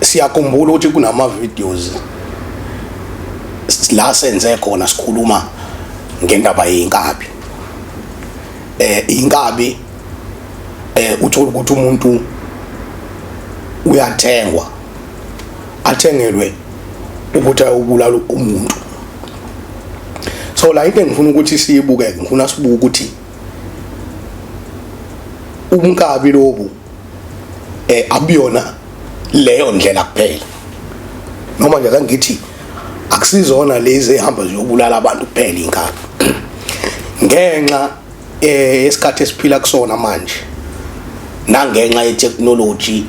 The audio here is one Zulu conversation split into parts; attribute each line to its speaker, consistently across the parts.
Speaker 1: siyakhumbula ukuthi kunama videos la senze khona sikhuluma ngendaba yeinkabi eh inkabi eh uthola ukuthi umuntu uyathengwa athengelwe ukuthi ayobulala umuntu so la into engifuna ukuthi siyibuke ngifuna sibuke ukuthi umkabi lobu eh abuyona leyo ndlela kuphela noma nje kangithi akusizona lezi ehamba ziyobulala abantu kuphela inkaba ngenxa eh isikhathi esiphila kusona manje nangenxa ye technology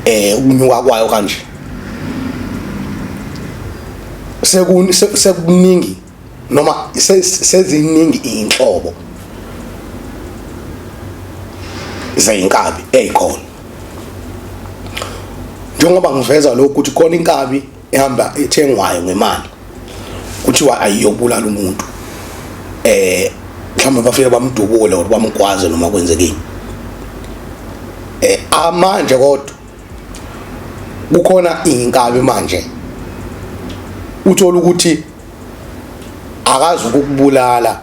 Speaker 1: eh ukunyuka kwayo kanje sekuningi noma seziningi iy'nhlobo zey'nkabi ey'khona njengoba ngiveza lokhu ukuthi khona inkabi ehamba ethengwayo ngemali kuthiwa ayiyobulala umuntu eh mhlawumbe bafike bamdubule or bamgwaze noma kwenzekile eh amanje kodwa kukhona inkabi manje uthola ukuthi akazi ukukubulala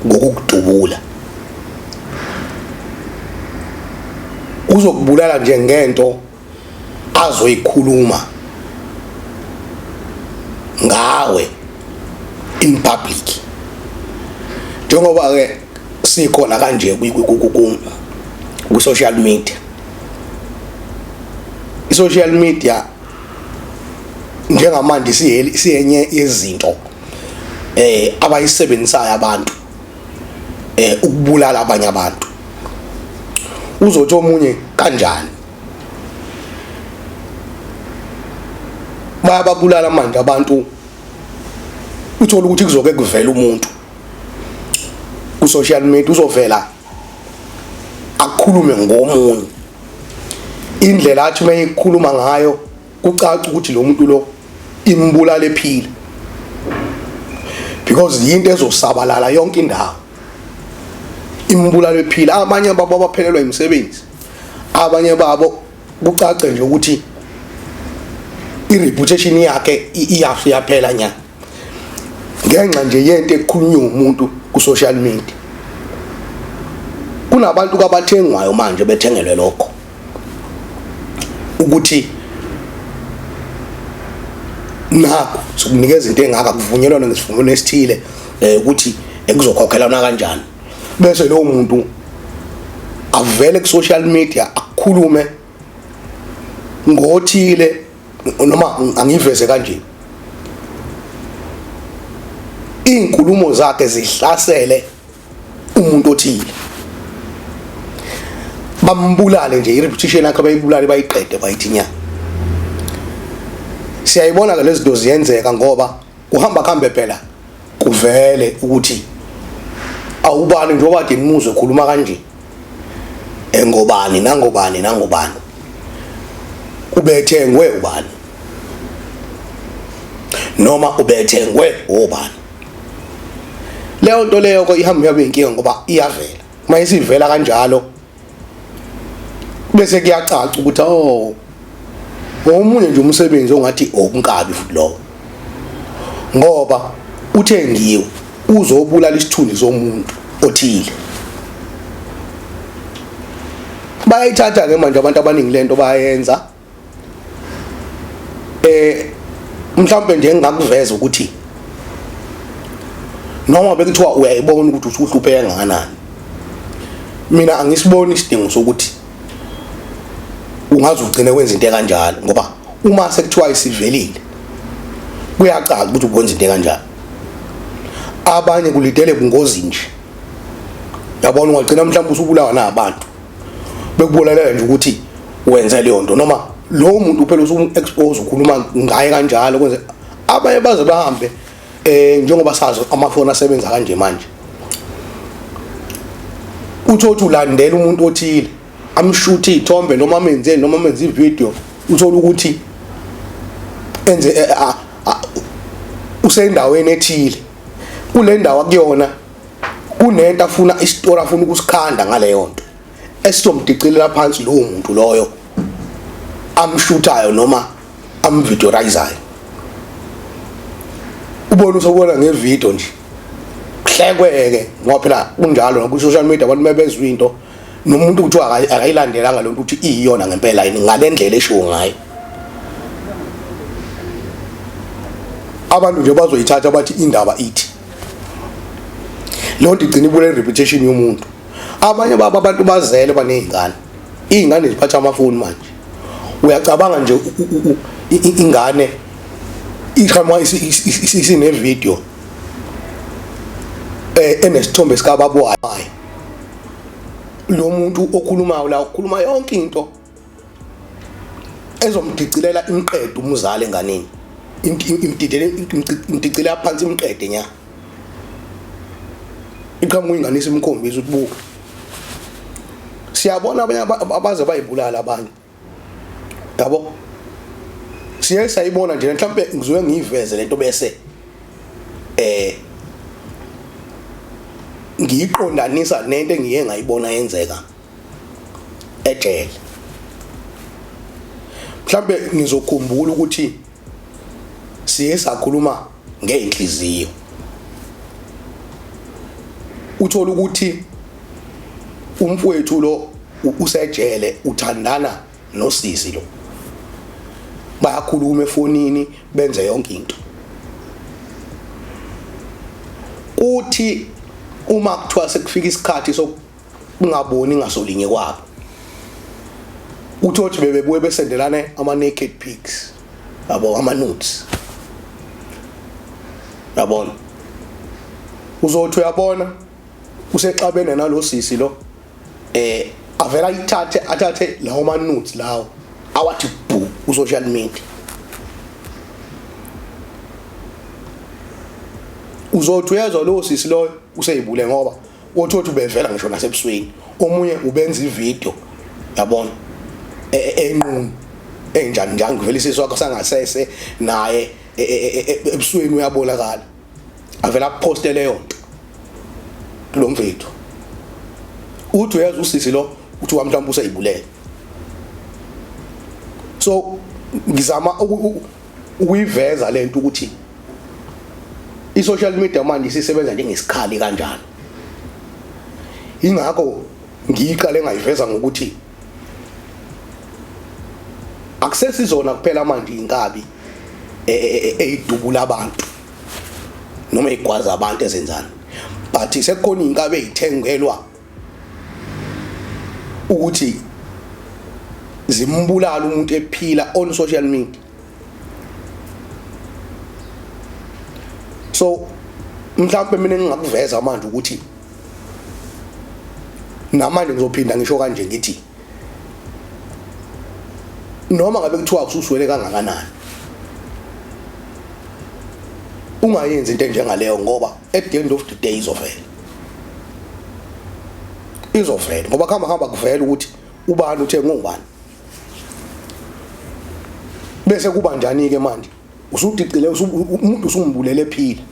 Speaker 1: ngokukudubula uzokubulala nje ngento azoyikhuluma ngawe in public njengoba ke sikhona kanje ku social media i social media njengamanje siyenye yezinto eh abayisebenzisayo abantu eh ukubulala abanye abantu uzothi omunye kanjani bayababulala manje abantu uthola ukuthi kuzoke kuvela umuntu ku social media uzovela akhulume ngomunye indlela athi uma ekhuluma ngayo kucaca ukuthi lo muntu lo imbulala ephila because yinto ezosabalala yonke indawo imbulala ephila abanye babo abaphelelwa imisebenzi abanye babo kucace nje ukuthi i-reputation yakhe iyaphela nyana ngenxa nje yento ekhulunywe umuntu ku social media kunabantu kabathengwayo manje bethengelwe lokho ukuthi nakho sokunikeza into engaka kuvunyelwana ngesivumelwano esithile eh ukuthi ekuzokhokhelana kanjani bese lowo muntu avele ku social media akhulume ngothile noma angiveze kanje izinkulumo zakhe zihlasele umuntu othile bambulale nje i-repetition yakhe bayibulale bayiqede bayithinya siyayibona ke lezinto ziyenzeka ngoba Kuhamba kuhambe phela kuvele ukuthi awubani njengoba kade nimuzwe khuluma kanje engobani nangobani nangobani ubethengwe ubani noma ubethengwe obani leyo nto leyo ko ihamba yabe inkinga ngoba iyavela uma isivela kanjalo bese kuyacaca ukuthi oh omunye nje umsebenzi ongathi okunkabi oh, futhi lowo ngoba uthengiwe uzobulala isithunzi somuntu othile bayayithatha ke manje abantu abaningi lento bayenza eh mhlawumbe nje engakuveza ukuthi noma bekuthiwa uyayibona ukuthi usuhlupheka kangakanani mina angisiboni isidingo sokuthi ungaze ugcine wenza into kanjalo ngoba uma sekuthiwa isivelile kuyacaca ukuthi ukwenza into kanjalo abanye kulidele bungozi nje yabona ungagcina mhlawumbe usubulawa nabantu bekubolalela nje ukuthi wenze leyo nto noma lowo muntu phela usumu-expose ukhuluma ngaye kanjalo kwenze abanye baze bahambe um njengoba sazi amafoni asebenza kanje manje uthi othi ulandela umuntu othile amshuthe iy'thombe noma amenzeni noma amenze ividiyo uthole ukuthi enze eh, ah, ah, usendaweni ethile kule ndawo akuyona kunento afuna isitora afuna ukusikhanda ngaleyo nto esizomdicilela phansi lowo muntu loyo amshuthayo noma amvideorayizayo ubona usobona ngevidiyo nje kuhlekweke ngoba phela kunjalo naku-social media abantu mebezwa into nomuntu kuthiwa akayilandelanga lento ukuthi iyiyona ngempela yini ngale ndlela eshiwo ngayo abantu nje bazoyithatha bathi indaba ithi leyo nto igcina ibule reputation yomuntu abanye babo abantu bazele banezingane izingane ziphatha amafoni manje uyacabanga nje ingane iqhamuka isinevideo eh enesithombe sikababa wayo lo muntu okhulumayo la ukhuluma yonke into ezomdicilela imqede umuzali enganeni imdicilela phansi imqede nya iqhamuka ingane isimkhombisa ukuthi buka siyabona abanye abaze bayibulala abanye yabo siye sayibona nje mhlawumbe ngizoke ngiyiveze lento bese eh ngiyiqondanisa nento engiye ngayibona yenzeka ejele mhlambe ngizokhumbula ukuthi siye sakhuluma ngeenhliziyo uthola ukuthi umfowethu lo usejele uthandana nosisi lo bayakhuluma efonini benze yonke into kuthi uma kuthiwa sekufika isikhathi ungaboni ngasolinye kwabo uthothi bebebuye besendelane ama naked pics yabo ama nudes yabona uzothi uyabona usexabene nalosisi lo eh avela ithathe athathe lawo ma nudes lawo awathi bhu ku social media uzothi uyezwa lowo sisi loyo useyibule ngoba othi othi ubevela ngisho nasebusweni omunye ubenza ivideo yabona e, e, enqunu enjani njani ngivela isisu wakho sangasese naye e, ebusweni uyabonakala avela poste leyo nto lo mfethu uthi uyazi usisi lo uthi wamhlawumbe useyibulele so ngizama ukuyiveza lento ukuthi i social media manje isisebenza njengesikhali kanjani ingakho ngiyiqale ngayiveza ngokuthi akusesizona kuphela manje inkabi e, e, e, eyidubula abantu noma igwaza abantu ezenzani but sekukhona inkabi ezithengelwa ukuthi zimbulala umuntu ephila on social media so mhlawumbe mina ngingakuveza manje ukuthi namanje ngizophinda ngisho kanje ngithi noma ngabe kuthiwa ususwele kangakanani ungayenzi into enjengaleyo ngoba at the end of the day izovela izovela ngoba khamba khamba kuvela ukuthi ubani uthe ngubani bese kuba njani ke manje usudicile umuntu usumbulele ephila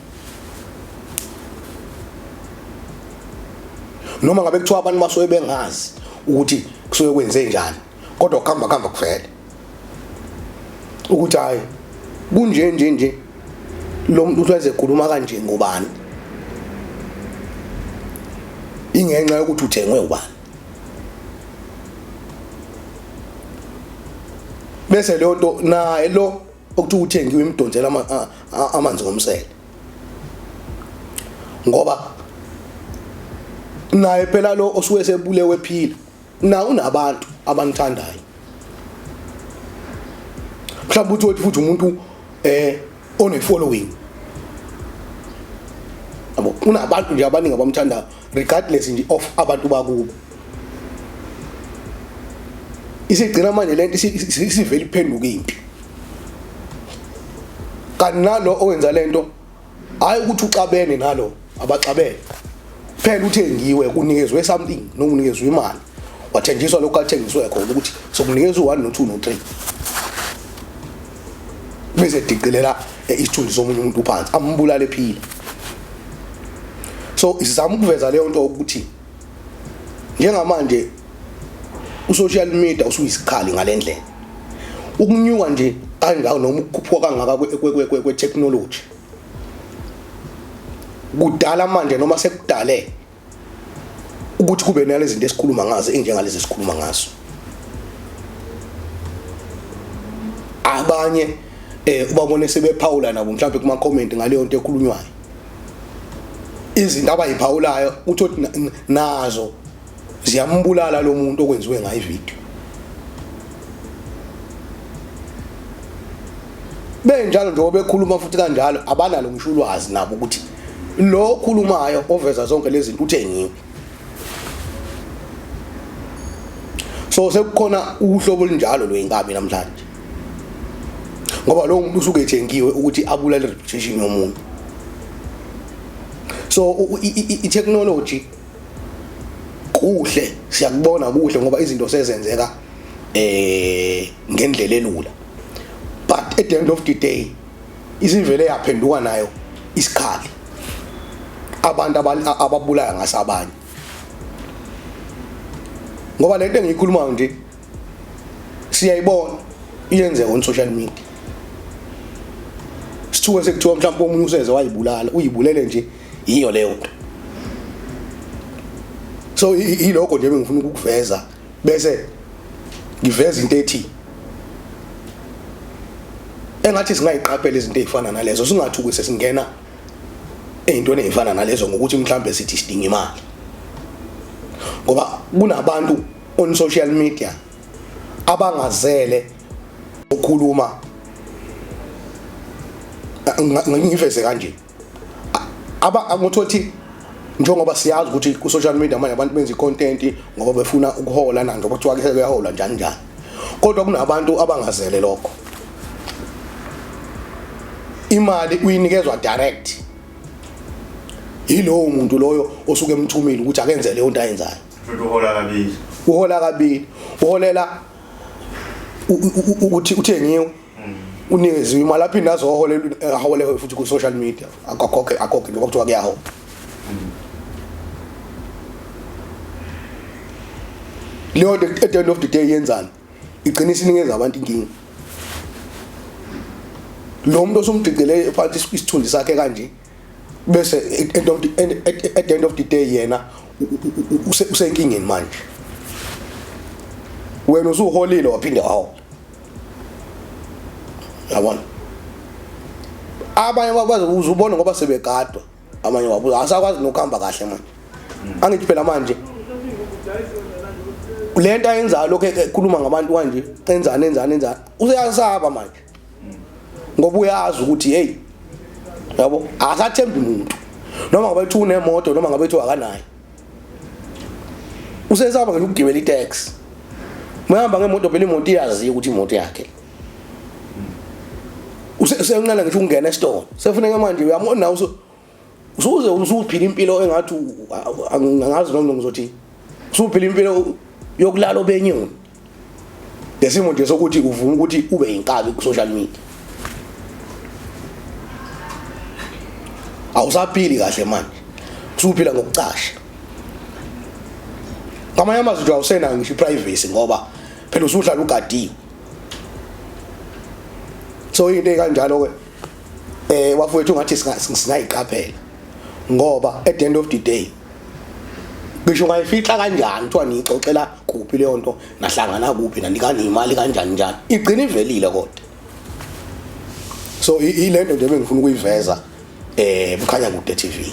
Speaker 1: noma ngabe kuthiwa abantu basuke bengazi ukuthi kusuke kwenze njani kodwa kuhamba kuhamba kuvele ukuthi hayi kunje nje nje lo muntu uhleze ekhuluma kanje ngobani ingenxa yokuthi uthengwe ubani bese leyo nto naye lo okuthiwa uthengiwe imidonsela amanzi ngomsele ngoba naye phela lo osuke sebulewe phila na unabantu abanithandayo mhlawumbe uthi wethi futhi umuntu eh one following abo unabantu nje abaningi abamthandayo regardless nje of abantu bakubo isigcina manje lento isivele iphenduka impi kanti nalo owenza lento hayi ukuthi uxabene nalo abaxabene phela uthengiwe kunikezwe something nokunikezwe imali wathenjiswa lokho athengiswe khona ukuthi sokunikezwe u1 no2 no3 bese diqilela eh, isithunzi somunye umuntu phansi ambulale phila so isizama ukuveza leyo nto ukuthi njengamanje usocial media usuyisikhali ngalendlela ukunyuka nje kangaka noma ukukhuphuka kangaka kwe-technology kudala manje noma sekudale ukuthi kube nale zinto esikhuluma ngazo enjengalezi esikhuluma ngazo abanye eh ubabone sebephawula nabo mhlawumbe kuma comment ngaleyo nto ekhulunywayo izinto abayiphawulayo uthi nazo ziyambulala lo muntu okwenziwe ngayo ivideo benjalo njengoba bekhuluma futhi kanjalo abanalo ngisho ulwazi nabo ukuthi lo okhulumayo oveza zonke lezi zinto uthengiwe so sekukhona uhlobo olunjalo lweyinkabi namhlanje ngoba lowo muntu usuke ethengiwe ukuthi abulale reputation yomuntu so i-technology kuhle siyakubona kuhle ngoba izinto sezenzeka eh ngendlela elula but at the end of the day isivele yaphenduka nayo isikhali abantu ababulala ngase abanye ngoba lento engiyikhuluma nje siyayibona iyenzeka on social media sithuke sekuthiwa mhlawumbe omunye useze wayibulala uyibulele nje yiyo leyo nto so ilokho nje bengifuna ukukuveza bese ngiveza into ethi engathi singayiqaphela izinto ezifana nalezo singathi ukuthi singena ezintweni ezifana nalezo ngokuthi mhlambe sithi sidinga imali ngoba kunabantu on social media abangazele ukukhuluma ngiveze kanje aba ngothothi njengoba siyazi ukuthi ku social media manje abantu benza icontent ngoba befuna ukuhola nange kuthiwa ke sebeyahola njani njani kodwa kunabantu abangazele lokho imali uyinikezwa direct yilowo muntu loyo osuke emthumile ukuthi akenze leyo nto ayenzayo futhi uhola
Speaker 2: kabili uhola
Speaker 1: kabili uholela ukuthi uthengiwe unikezwe imali aphinde azohole ahole futhi ku social media akakhoke akhoke lokho kuthiwa kuyaho leyo at the end of the day yenzani igcina isinikeza abantu inkinga lo muntu osumdidele phansi isithunzi sakhe kanje bese at end of the end, at, at the end of the day yena usenkingeni manje wena usuholile waphinde wahola yabona abanye bakwazi uzubona ngoba sebegadwa abanye wabuza asakwazi nokuhamba kahle manje angithi phela manje lento ayenzayo lokho ekhuluma ngabantu kanje enzani enzani enzani useyasaba manje ngoba uyazi ukuthi hey yabo akathembi umuntu noma ngabe uthi unemoto noma ngabe uthi akanayo usesaba ngeke ukugibela itax mayihamba ngemoto phela imoto iyaziyo ukuthi imoto yakhe usenqala ngisho ukungena esitolo sefuneka manje uyamona uso usuze usuphila impilo engathi angazi noma ngizothi usuphila impilo yokulala obenyoni lesimo nje sokuthi uvuma ukuthi ube yinkabi ku social media awusaphili kahle manje usuphila ngokucasha ngamanye amazwi nje awusenayo ngisho iprivacy ngoba phela usuhlala ugadiwe so into ekanjalo ke eh wafowethu ngathi singayiqaphela ngoba at the end of the day ngisho ngayifihla kanjani kuthiwa niyixoxela kuphi leyo nto nahlangana kuphi nanikani imali kanjani njani igcina ivelile kodwa so ilento nje bengifuna ukuyiveza eh bukhanya kude TV